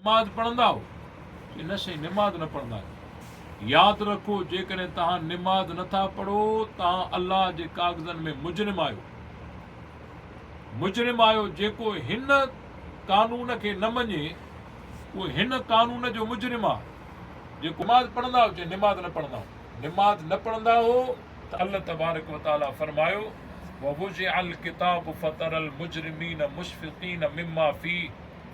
نماز پڙهندا آهو چي نه سائين نماز نه پڙهندا آهيون ياد رکو جيڪڏهن توهان نماز نٿا پڙهو توهان الله جي ڪاغذن ۾ مجرم آهيو مجرم آهيو جيڪو هن قانون کي نه مڃي اهو هن قانون جو مجرم آهي جيڪو نماز پڙهندا آهو چي نماز نه پڙهندا آهو نماز نه پڙهندا آهو ته الله تبارڪ وتعالي فرمايو ووضع الڪتاب فترى المجرمين مشفقين مما فيه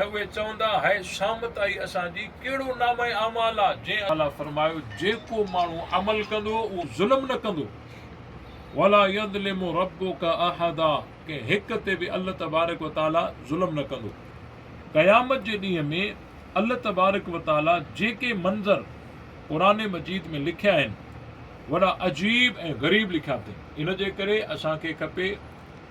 ۽ اهي چوندا، هيء شامت آهي اسان جي، ڪهڙو نامه اعمال آ، جنهن الله فرمايو، جيڪو ماڻهو عمل ڪندو، اهو ظلم نه ڪندو، ولا يظلم ربک احدا، ڪنهن هڪ تي به الله تبارڪ وتعاليٰ ظلم نه ڪندو. قيامت جي ڏينهن ۾ الله تبارڪ وتعاليٰ جيڪي منظر قرآن مجيد ۾ لکيا آهن، وڏا عجيب ۽ غريب لکيا اٿئي. ان جي ڪري اسان کي کپي.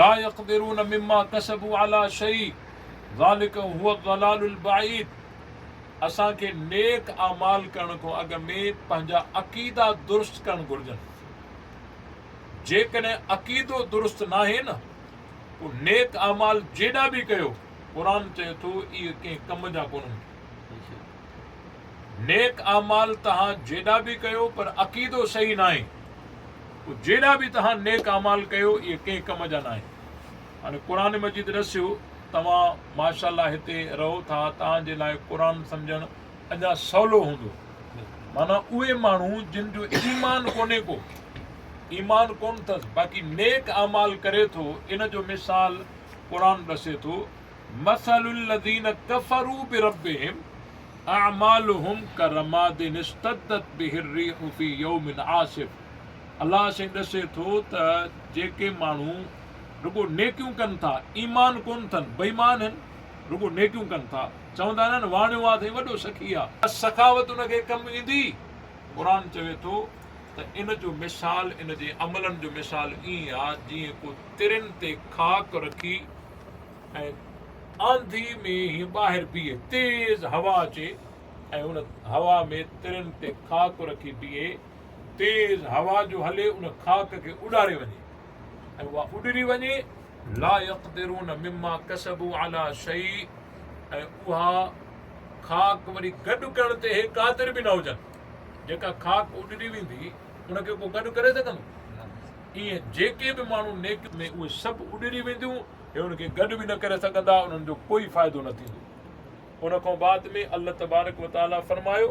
لا يقدرون مما کسبوا علي شيء ذلک هو الضلال البعيد اسان کي نيڪ اعمال ڪرڻ کان اڳ ۾ پنهنجا عقيدا درست ڪرڻ گهرجن جيڪڏهن عقيدو درست ناهي نه پوء نيڪ اعمال جيڏا به ڪيو قرآن چئي ٿو اهي ڪنهن ڪم جا ڪونهن نيڪ اعمال توهان جيڏا به ڪيو پر عقيدو صحيح ناهي پوء جيڏا به توهان نيڪ اعمال ڪيو اهي ڪنهن ڪم جا ناهن. هاڻي قرآن مجيد ڏسيو توهان ماشاء الله هتي رهو ٿا توهان جي لاء قرآن سمجهڻ اڃا سولو هوندو معنيٰ اهي ماڻهو جن جو ايمان ڪونهي ڪو ايمان ڪون اٿس باقي نيڪ اعمال ڪري ٿو ان جو مثال قرآن ڏسي ٿو مثل الذين كفروا بربهم اعمالهم كرماد اشتدت به الريح في يوم عاصف الله سين ڏسي ٿو ته جيڪي ماڻهو رڳو نيڪيون ڪن ٿا ايمان ڪون ٿن بيمان هن رڳو نيڪيون ڪن ٿا چوندا آهن نه واڻيو آ سائين وڏو سخي آ بس سخاوت ان کي ڪم ايندي قرآن چوي ٿو ته ان جو مثال ان جي عملن جو مثال ائين آ جيئن ڪو ترين تي خاڪ رکي ۽ آنڌي ۾ هين ٻاهر بيهي تيز هوا اچي ۽ ان هوا ۾ ترين تي خاڪ رکي بيهي تيز هوا جو هلي ان خاڪ کي اڏاري وڃي ۽ اها اڏري وڃي لا يقدرون مما كسبوا على شيء ۽ اها خاڪ وري گڏ ڪرڻ تي هي قادر به نه هجن جيڪا خاڪ اڏري ويندي ان کي ڪو گڏ ڪري سگهندو ائين جيڪي به ماڻهو نيڪ ۾ اهي سڀ اڏري وينديون هي ان کي گڏ به نه ڪري سگهندا انهن جو ڪوئي فائدو نه ٿيندو ان کان بعد ۾ الله تبارڪ وتعاليٰ فرمايو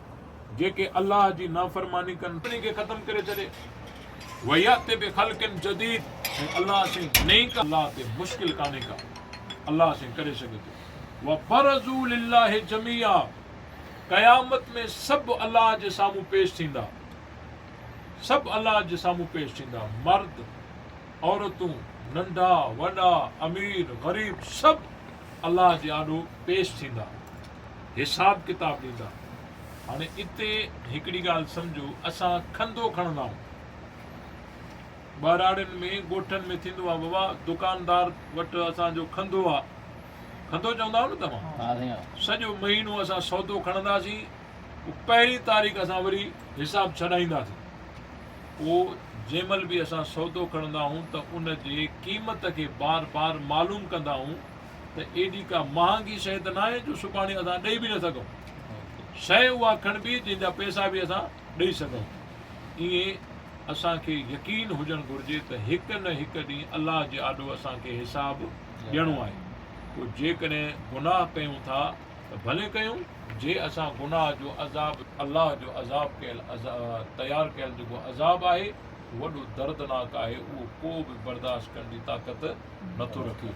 جيڪي الله جي نافرماني ڪن سڀني کي ختم ڪري ڇڏي ويات بخلق جديد ۽ الله سين نئين ڪا الله تي مشڪل ڪانهي ڪا الله سين ڪري سگهي ٿو وبرزوا لله جميعا قيامت ۾ سڀ الله جي سامهون پيش ٿيندا سڀ الله جي سامهون پيش ٿيندا مرد عورتون ننڍا وڏا امير غريب سڀ الله جي آڏو پيش ٿيندا حساب ڪتاب ڏيندا. هاڻي اتي هڪڙي ڳالهه سمجهو اسان کنڌو کڻندا آهيون. ٻهراڙين ۾ ڳوٺن ۾ ٿيندو آهي بابا دڪاندار وٽ اسان جو کنڌو آهي کنڌو چوندا آهيو نه توهان سڄو مهينو اسان سودو کڻنداسين پوء پهرين تاريخ اسان وري حساب ڇڏائينداسين پوء جنهن مهل به اسان سودو کڻندا آهيون ته ان جي قيمت کي بار بار معلوم ڪندا آهيون ته ايڏي ڪا مهانگي شيء ته ناهي جو سڀاڻي اسان ڏئي به نه سگهون. شيء اها کڻبي جنهن جا پئسا به اسان ڏئي سگهون. ائين اسان کي يقين هجڻ گهرجي ته هڪ نه هڪ ڏينهن الله جي آڏو اسان کي حساب ڏيڻو آهي. پوء جيڪڏهن گناهه ڪيون ٿا ته ڀلي ڪيون. جي اسان گناهه جو عذاب. الله جو عذاب ڪيل تيار ڪيل جيڪو عذاب آهي وڏو دردناڪ آهي اهو ڪو به برداشت ڪرڻ جي طاقت نٿو رکي.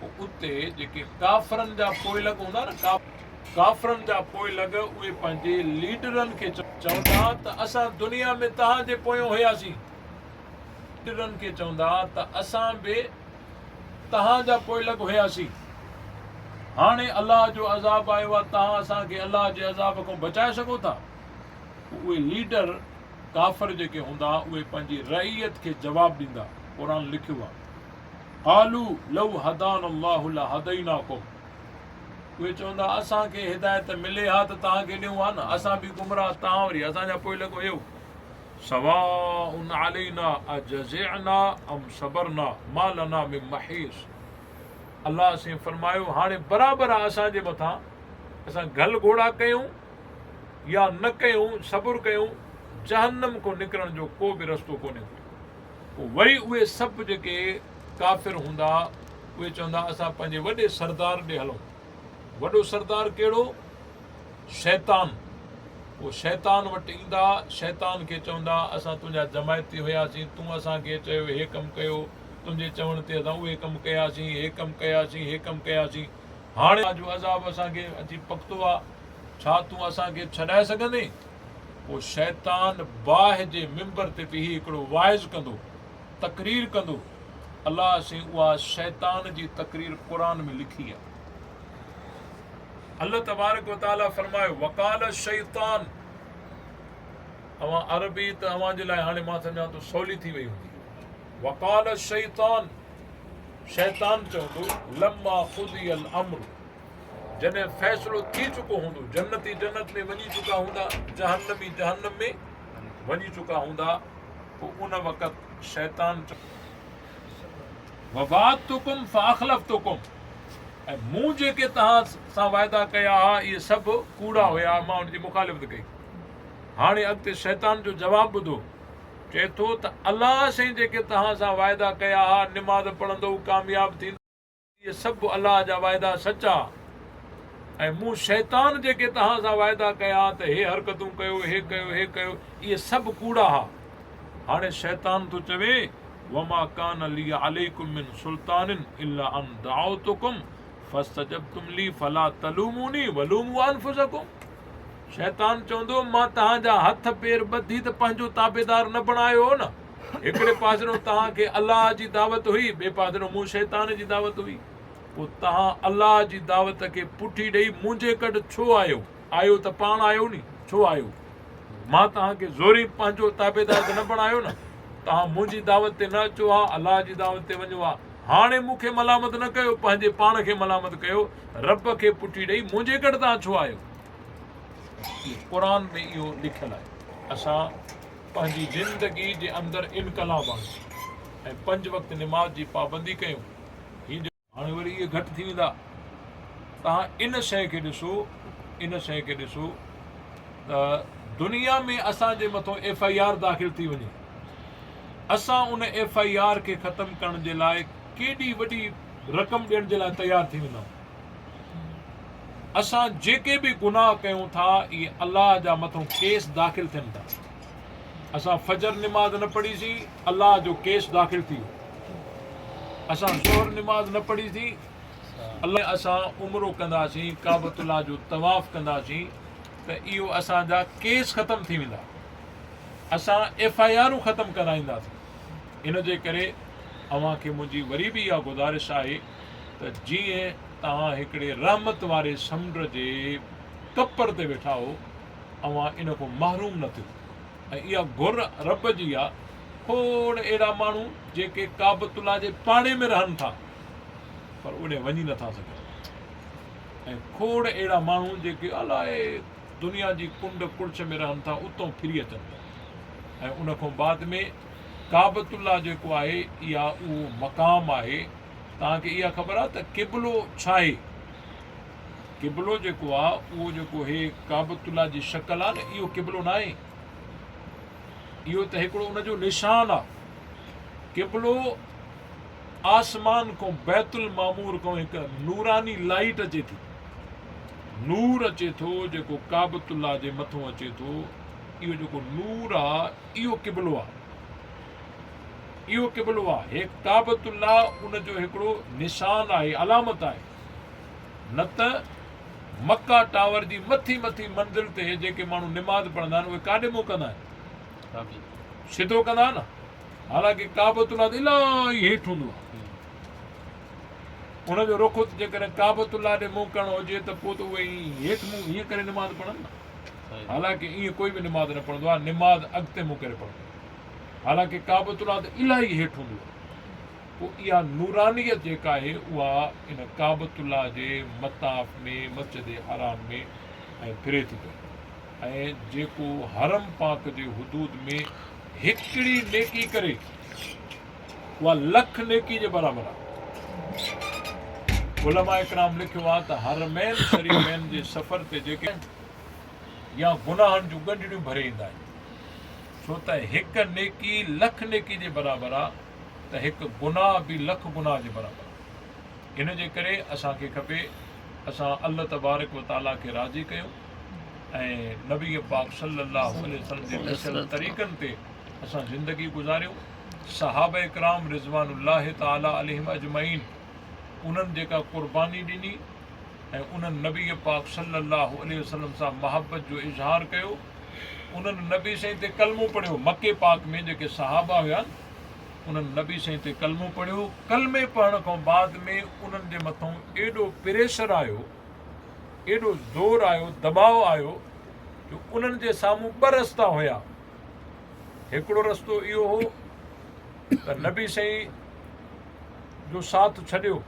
پوء اتي جيڪي ڪافرن جا پوئلڳ هوندا نه ڪافرن جا پوئلڳ اهي پنهنجي ليڊرن کي چوندا ته اسان دنيا ۾ توهان جي پويان هياسين ليڊرن کي چوندا ته اسان به توهان جا پوئلڳ هياسين هاڻي الله جو عذاب آيو آهي توهان اسان کي الله جي عذاب کان بچائي سگهو ٿا اهي ليڊر ڪافر جيڪي هوندا اهي پنهنجي رعيت کي جواب ڏيندا قرآن لکيو آهي قالو لو هدانا الله لهديناکم اهي چوندا اسان کي هدايت ملي ها ته توهان کي ڏيون ها نه اسان به گمراهه توهان وري اسان جا پوء لڳو اهو سواء علينا اجزعنا ام صبرنا ما لنا من محيص الله سين فرمايو هاڻي برابر آ اسان جي مٿا اسان گل گھوڙا ڪيون يا نه ڪيون صبر ڪيون جهنم کو نڪرڻ جو ڪو به رستو ڪونهي پوء وري اهي سڀ جيڪي ڪافر هوندا اهي چوندا اسان پنهنجي وڏي سردار ڏي هلون. وڏو سردار ڪهڙو؟ شيطان. پوء شيطان وٽ ايندا، شيطان کي چوندا اسان تنهنجا جماعتي هياسين، تون اسان کي چيو هي ڪم ڪيو، تنهنجي چوڻ تي اسان اهي ڪم ڪياسين، هي ڪم ڪياسين، هي ڪم ڪياسين، هاڻي توهان جو عذاب اسان کي اچي پڪتو آهي، ڇا تون اسان کي ڇڏائي سگهندين؟ پوء شيطان باهه جي منبر تي بيهي هڪڙو واعظ ڪندو، تقرير ڪندو، الله سين اها شيطان جي تقرير قرآن ۾ لکي آ. الله تبارڪ و تعالي فرمايو وقال الشيطان اوهان عربي ته اوهان جي لاء هاڻي مان سمجهان ٿو سولي ٿي وئي هوندي وقال الشيطان شيطان چوندو لما قضي الامر جڏهن فيصلو ٿي چڪو هوندو، جنتي جنت ۾ وڃي چڪا هوندا، جهنمي جهنم ۾ وڃي چڪا هوندا، پوء ان وقت شيطان ووعدتڪم فاخلفتڪم ۽ مون جيڪي توهان سان وعدا ڪيا ها اهي سڀ ڪوڙا هيا مان ان جي مخالفت ڪئي هاڻي اڳتي شيطان جو جواب ٻڌو چئي ٿو ته الله سائين جيڪي توهان سان وعدا ڪيا ها نماز پڙهندو ڪامياب ٿيندو اهي سڀ الله جا وعدا سچا ۽ مون شيطان جيڪي توهان سان وعدا ڪيا ته هي حرڪتون ڪيو هي ڪيو هي ڪيو اهي سڀ ڪوڙا ها هاڻي شيطان ٿو چوي وما کان لي عليكم من سلطان الا ان دعوتكم فاستجبتم لي فلا تلوموني ولوموا انفسكم شيطان چوندو مان توهان جا هٿ پير ٻڌي ته پنهنجو تابعدار نه بڻايو نه هڪڙي پاسرو توهان کي الله جي دعوت هئي ٻئي پاسرو مون شيطان جي دعوت هئي پوء توهان الله جي دعوت کي پٺي ڏئي منهنجي ڪٽ ڇو آيو آيو ته پاڻ آيو ني ڇو آيو مان توهان کي زوري پنهنجو تابعدار ته نه بڻايو نه توهان منهنجي دعوت تي نه اچو ها الله جي دعوت تي وڃو ها هاڻي مون کي ملامت نه ڪيو پنهنجي پاڻ کي ملامت ڪيو رب کي پٺي ڏئي منهنجي ڪٽ توهان ڇو آيو قرآن ۾ اهو لکيل آهي اسان پنهنجي زندگي جي اندر انقلاب آڻيو ۽ پنج وقت نماز جي پابندي ڪيون هي ڏسو. هاڻي وري اهي گهٽ ٿي ويندا توهان ان شئي کي ڏسو ان شئي کي ڏسو ته دنيا ۾ اسان جي مٿو ايف آئي آر داخل ٿي وڃي اسان ان ايف آئي آر کي ختم ڪرڻ جي لاء ڪيڏي وڏي رقم ڏيڻ جي لاء تيار ٿي ويندا آهيون. اسان جيڪي به گناهه ڪيون ٿا اهي الله جا مٿون ڪيس داخل ٿين ٿا اسان فجر نماز نه پڙهي سي الله جو ڪيس داخل ٿي ويو اسان ظهر نماز نه پڙهي سي الله اسان عمرو ڪنداسين ڪعبت الله جو طواف ڪنداسين ته اهو اسان جا ڪيس ختم ٿي ويندا اسان ايف آء آرون ختم ڪرائينداسين ان جي ڪري اوهان کي منهنجي وري به اها گذارش آهي ته جيئن توهان هڪڙي رحمت واري سمنڊ جي ڪپر تي ويٺا هو، اوهان ان کان محروم نه ٿيو ۽ اها گهر رب جي آ، کوڙ اهڙا ماڻهو جيڪي ڪعبت الله جي پاڙي ۾ رهن ٿا پر اوڏي وڃي نه ٿا سگهن ۽ کوڙ اهڙا ماڻهو جيڪي الائي دنيا جي ڪنڊ ڪڙڇ ۾ رهن ٿا اتان ڦري اچن ٿا ۽ ان کان بعد ۾ ڪعبت الله جيڪو آهي اها اهو مقام آهي توهان کي اها خبر آهي ته قبلو ڇا آهي قبلو جيڪو آهي اهو جيڪو هي ڪعبت الله جي شڪل آهي نه اهو قبلو نه آهي اهو ته هڪڙو ان جو نشان آهي قبلو آسمان کان بيت المعمور کان هڪ نوراني لائيٽ اچي ٿي نور اچي ٿو جيڪو ڪعبت الله جي مٿو اچي ٿو اهو جيڪو نور آهي اهو قبلو آهي. اهو قبلو آهي. هيء ڪعبة الله ان جو هڪڙو نشان آهي، علامت آهي. نه ته مڪه ٽاور جي مٿي مٿي منزل تي جيڪي ماڻهو نماز پڙهندا آهن، اهي ڪاڏي منهن ڪندا آهن؟ سڌو ڪندا آهن نه. حالانڪه ڪعبة الله ته الاهي هيٺ هوندو آهي. ان جو رخ جيڪڏهن ڪعبة الله ڏي منهن ڪرڻو هجي ته پوء ته اهي هيٺ منهن هيئن ڪري نماز پڙهن نه. حالانڪه ائين ڪوئي به نماز نه پڙهندو آهي نماز اڳتي منهن ڪري پڙهندو آهي حالانڪه ڪعبة الله ته الاهي هيٺ هوندو آهي پوء اها نورانيت جيڪا آهي اها ان ڪعبة الله جي مطاف ۾ مسجد حرام ۾ ۽ ڦري ٿي پئي ۽ جيڪو حرم پاڪ جي حدود ۾ هڪڙي نيڪي ڪري اها لک نيڪي جي برابر آهي. علماء ڪرام لکيو آهي ته حرمين شريفين جي سفر تي جيڪي آهن يا گناهن جون ڳنڍڙيون ڀري ايندا آهن ڇو ته هڪ نيڪي لک نيڪي جي برابر آهي ته هڪ گناهه به لک گناهه جي برابر آهي ان جي ڪري اسان کي کپي اسان الله تبارڪ و تعالي کي راضي ڪيون ۽ نبي پاڪ صلي الله عليه وسلم جي دسيل طريقن تي اسان زندگي گذاريون صحابه ڪرام رضوان الله تعالٰي عليهم اجمعين انهن جيڪا قرباني ڏني ۽ انهن نبي پاڪ صلي الله عليه وسلم سان محبت جو اظهار ڪيو انهن نبي سائين تي ڪلمو پڙهيو مڪي پاڪ ۾ جيڪي صحابه هيا انهن نبي سائين تي ڪلمو پڙهيو ڪلمي پڙهڻ کان بعد ۾ انهن جي مٿان ايڏو پريشر آيو ايڏو زور آيو دٻاء آيو جو انهن جي سامهون ٻه رستا هيا هڪڙو رستو اهو هو ته نبي سائين جو ساٿ ڇڏيو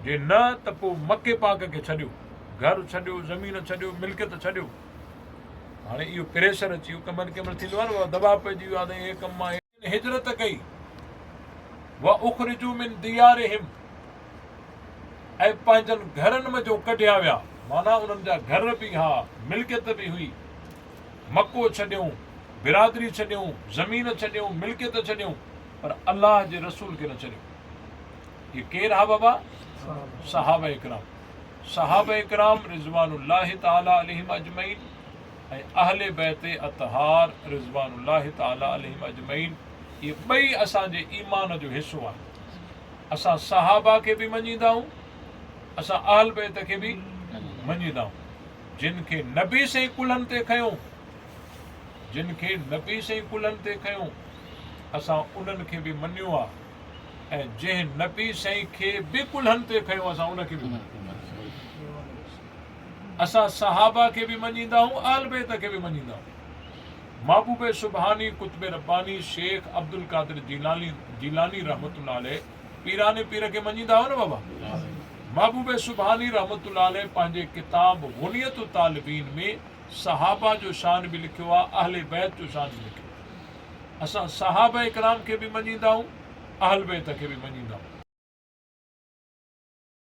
جي نه ته پوء مڪي پاڪ کي ڇڏيو گهر ڇڏيو زمين ڇڏيو ملڪيت ڇڏيو هاڻي اهو پريشر اچي ويو ڪمن ڪمن ٿيندو آهي نه دباء پئجي ويو آهي ته هي ڪم آهي جن هجرت ڪئي، واخرجو من ديارهم ۽ پنهنجن گهرن منجهو ڪڍيا ويا، معنيٰ انهن جا گهر به ها، ملڪيت به هئي، مڪو ڇڏيون، برادري ڇڏيون، زمين ڇڏيون، ملڪيت ڇڏيون، پر الله جي رسول کي نه ڇڏيو. اهي ڪير ها بابا؟ صحابه ڪرام. صحابه ڪرام رضوان الله تعالٰي عليهم اجمعين. ۽ اهل بيت اطهار رضوان الله تعالٰي عليهم اجمعين اهي ٻئي اسان جي ايمان جو حصو آهن. اسان صحابه کي به مڃيندائون اسان اهل بيت کي به مڃيندائون جن کي نبي سين ڪلهن تي کنيو جن کي نبي سين ڪلهن تي کنيو اسان انهن کي به مڃيو آ ۽ جنهن نبي سين کي به ڪلهن تي کنيو اسان ان کي به مڃيو اسان صحابه کي به مڃيندا هون اهل بيت کي به مڃيندا هون محبوب سبحاني قطب رباني شيخ عبدالقادر جيلاني جيلاني رحمة الله عليه پيران پير کي مڃيندا هيو نه بابا محبوب سبحاني رحمة الله عليه پنهنجي ڪتاب غنيت الطالبين ۾ صحابه جو شان به لکيو آهي اهل بيت جو شان به لکيو آهي اسان صحابه اڪرام کي به مڃيندا هون اهل بيت کي به مڃيندا هون.